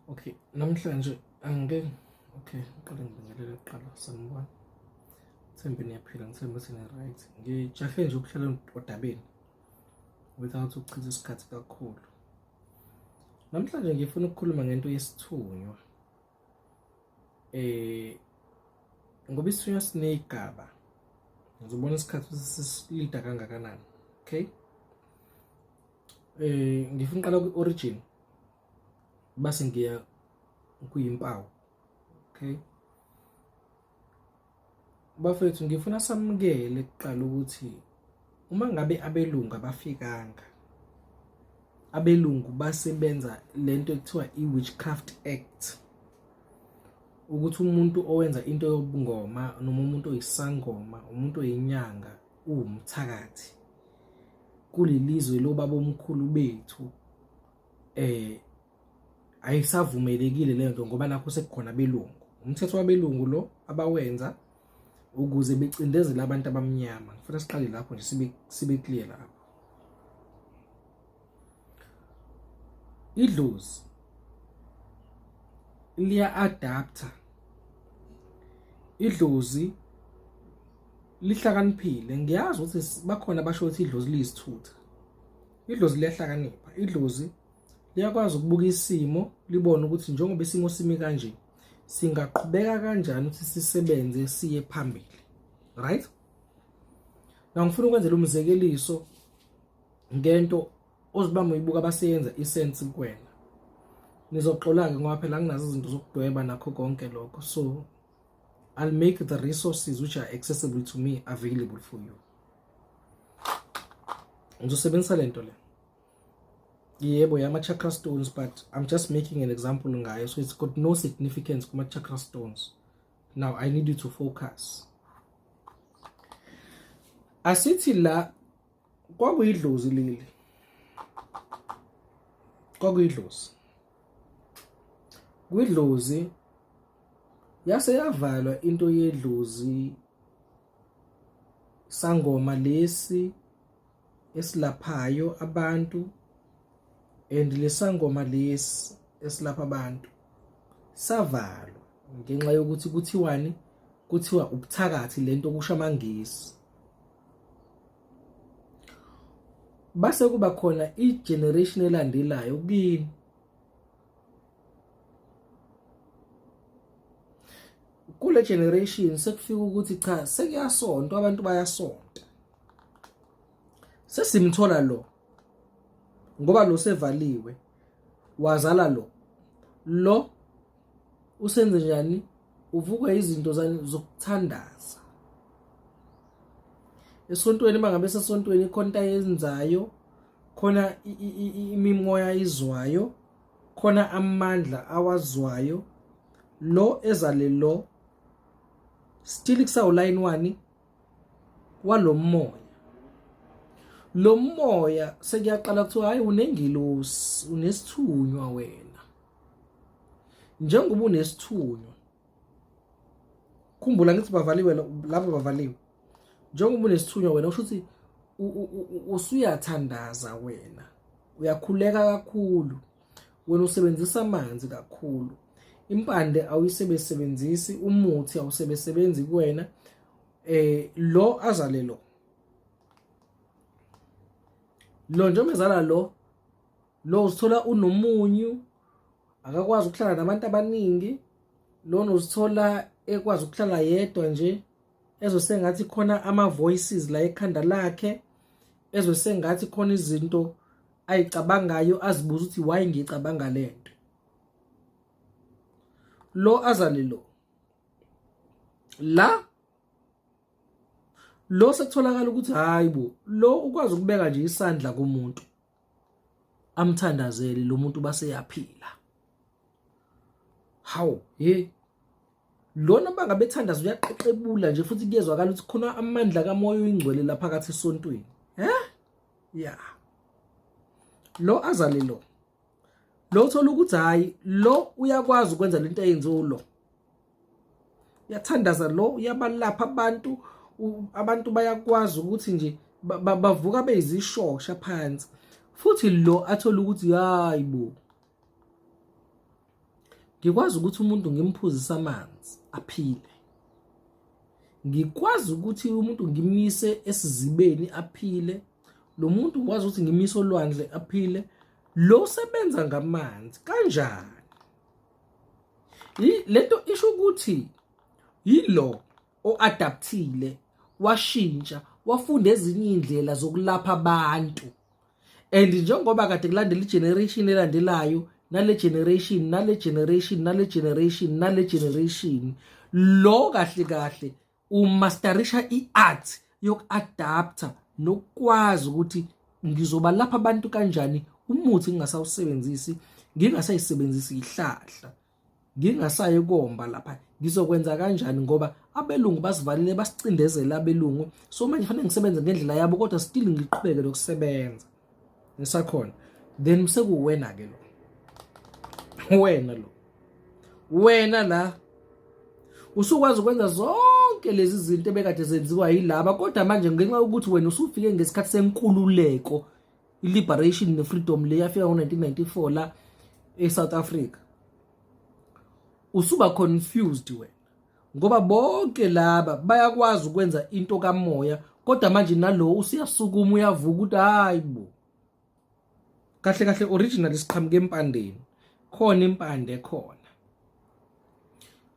Okay, namhlanje angike okay, uqale ngibingelele kuqala sanibona. Thembe niyaphila ngithemba sine right. Ngijahe nje ukuhlala odabeni without ukuchitha isikhathi kakhulu. Namhlanje ngifuna ukukhuluma ngento yesithunywa. Eh ngoba isithunywa sinegaba. Ngizobona isikhathi ukuthi sisilida kangakanani. Okay? eh ngifuna uqala ku origin base ngiya kuyimpawu okay bafethu ngifuna samukele kuqala ukuthi uma ngabe abelungu abafikanga abelungu basebenza lento ekuthiwa i-witchcraft act ukuthi umuntu owenza into yobungoma noma umuntu oyisangoma umuntu oyinyanga uwumthakathi kulelizwe lobabomkhulu bethu eh ayisavumelekile le nto ngoba nakho sekukhona belungu umthetho wabelungu lo abawenza ukuze becindezele abantu abamnyama ngifuna siqale lapho nje sibe sibe clear lapho idlozi liya adapter idlozi lihlakaniphile ngiyazi ukuthi bakhona basho ukuthi idlozi liyisithutha idlozi liyahlakanipha idlozi liyakwazi ukubuka isimo libone ukuthi njengoba isimo simi kanje singaqhubeka kanjani ukuthi sisebenze siye phambili right na ngifuna ukwenzela umzekeliso ngento ozibamba uyibuka abaseyenza isense kuwena nizoxola-ke ngoba phela nginazo izinto zokudweba nakho konke lokho so I'll make the resources which are accessible to me available for you ngizosebenzisa le nto le yebo yama-chakra stones but i'm just making an example ngayo so it's got no significance kuma-chakra stones now i need you to focus asithi la kwakuyidlozi leli kwakuyidlozi kwidlozi yase yavalwa into yedlozi sangoma lesi esilaphayo abantu and lesangoma lesi esilapha abantu savalwa ngenxa yokuthi kuthiwani kuthiwa ubuthakathi lento kusho amangisi base kuba khona i-generation elandelayo kini kule generation sekufika ukuthi cha sekuyasonto abantu bayasonta sesimthola lo ngoba lo sevaliwe wazala lo lo usenze njani uvukwa izinto zokuthandaza esontweni bangabe sesontweni khona yenzayo khona imimoya izwayo khona amandla awazwayo lo ezale lo still kusawulayini wani walomoya lo moya sekuyaqala kuthiwa hayi unengilosi unesithunywa wena njengoba unesithunywa khumbula ngithi bavaliwe laba bavaliwe njengoba unesithunywa wena usho ukuthi usuyathandaza wena uyakhuleka kakhulu wena usebenzisa amanzi kakhulu impande awuyisebesebenzisi umuthi awusebesebenzi kuwena eh lo azale lo lo njengoba ezala lo lo uzithola unomunyu akakwazi ukuhlala nabantu abaningi lona uzithola ekwazi ukuhlala yedwa nje ezwe sengathi khona ama voices la ekhanda lakhe ezwe sengathi khona izinto ayicabangayo azibuza ukuthi why ngicabanga lento lo azale lo la lo sekutholakala ukuthi hayi bo lo ukwazi ukubeka nje isandla kumuntu amthandazele lo muntu base yaphila hawu hey lona banga bethandaza uyaqeqebula nje futhi kuyezwakala ukuthi khona amandla kamoya oyingcwele lapha kathi esontweni eh ya lo azale lo lo uthola ukuthi hayi lo uyakwazi ukwenza lento eyenziwe lo uyathandaza lo uyabalapha abantu abantu bayakwazi ukuthi nje bavuka beyizishosha phansi futhi lo athola ukuthi hayi bo ngikwazi ukuthi umuntu ngimphuzise amanzi aphile ngikwazi ukuthi umuntu ngimise esizibeni aphile lo muntu ngikwazi ukuthi ngimise olwandle aphile lo sebenza ngamanzi kanjani lento isho ukuthi yilo oadaptile washintsha wafunda ezinye indlela zokulapha abantu and njengoba kade kulandela igeneration elandelayo nale generation nale generation nale generation nale generation lo kahle kahle umasterisha i-art yoku-adaptha nokukwazi ukuthi ngizobalapha abantu kanjani umuthi ngingasawusebenzisi ngingasayisebenzisi ihlahla ngingasayi komba lapha ngizokwenza kanjani ngoba abelungu basivalile basicindezela abelungu so manje fanele ngisebenze ngendlela yabo kodwa still ngiqhubeke nokusebenza ngisakhona then sekuwena ke lo wena lo wena la usukwazi ukwenza zonke lezi zinto ebekade zenziwa yilaba kodwa manje ngenxa yokuthi wena usufike ngesikhathi senkululeko i-liberation ne-freedom le yafika ngo-1994 la e-south africa usuba confused wena ngoba bonke laba bayakwazi ukwenza into kamoya kodwa manje nalo usiyasukuma uyavuka ukuthi hayi bo kahle kahle original siqhamuke empandeni khona impande khona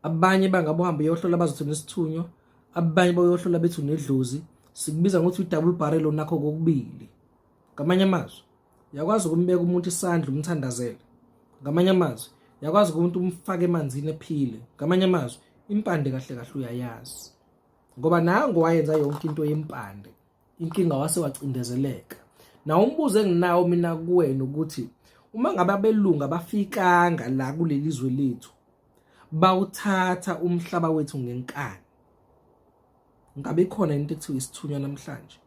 abanye bangabe uhambe uyohlola bazothi unesithunywa abanye bayohlola bethi unedlozi sikubiza ngokuthi i-double barrel onakho kokubili ngamanye amazwi yakwazi ukumbeka umuntu isandla umthandazele ngamanye amazwi yakwazi ukuthi umfake emanzini ephile ngamanye amazwi impande kahle kahle uyayazi ngoba nango wayenza yonke into yempande inkinga wase wacindezeleka na umbuzo enginawo mina kuwena ukuthi uma ngabe abelungu abafikanga la kuleli zwe lethu bawuthatha umhlaba wethu ngenkani ngabe khona into ekuthiwa isithunywa namhlanje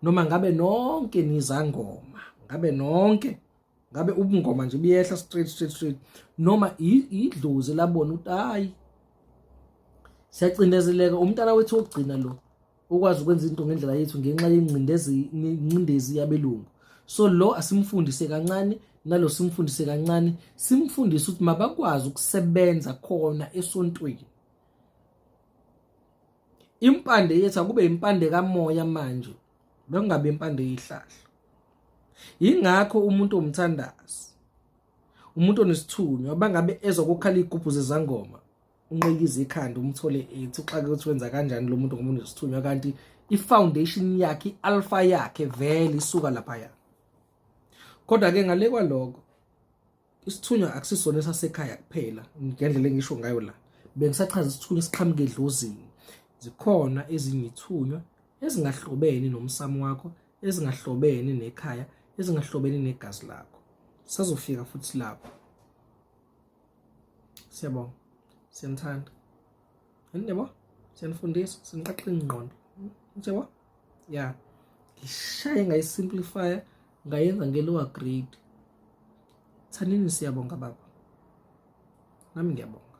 noma ngabe nonke nizangoma ngabe nonke ngabe ubungoma nje buyehla straight straight straight noma idlozi labona ukuthi hayi siyacindezeleka umntana wethu ogcina lo ukwazi ukwenza into ngendlela yethu ngenxa yengcindezi yabelungu so lo asimfundise kancane nalo simfundise kancane simfundise ukuthi mabakwazi ukusebenza khona esontweni impande yethu akube impande kamoya manje bekungabe impande yihlahla yingakho umuntu omthandazi umuntu onesithunywa bangabe ezokukhala igubhu zezangoma unqikiza ikhanda umthole ethi uxake ukuthi wenza kanjani lo muntu ngoba unesithunywa kanti i-foundation yakhe i-alpha yakhe vele isuka laphaya kodwa-ke ngale kwaloko isithunywa akusisona esasekhaya kuphela ngendlela engisho ngayo la bengisachaza isithunywa esiqhamuke edlozini zikhona ezinye ithunywa ezingahlobene nomsamo wakho ezingahlobene nekhaya ezingahlobene negazi lakho sazofika futhi lapho siyabonga siyanithanda yini yabo siyanifundisa siniqaqe ingqondo yabo ya ngishaye ngayisimplifya ngayenza nge-lower grade thanini siyabonga baba nami ngiyabonga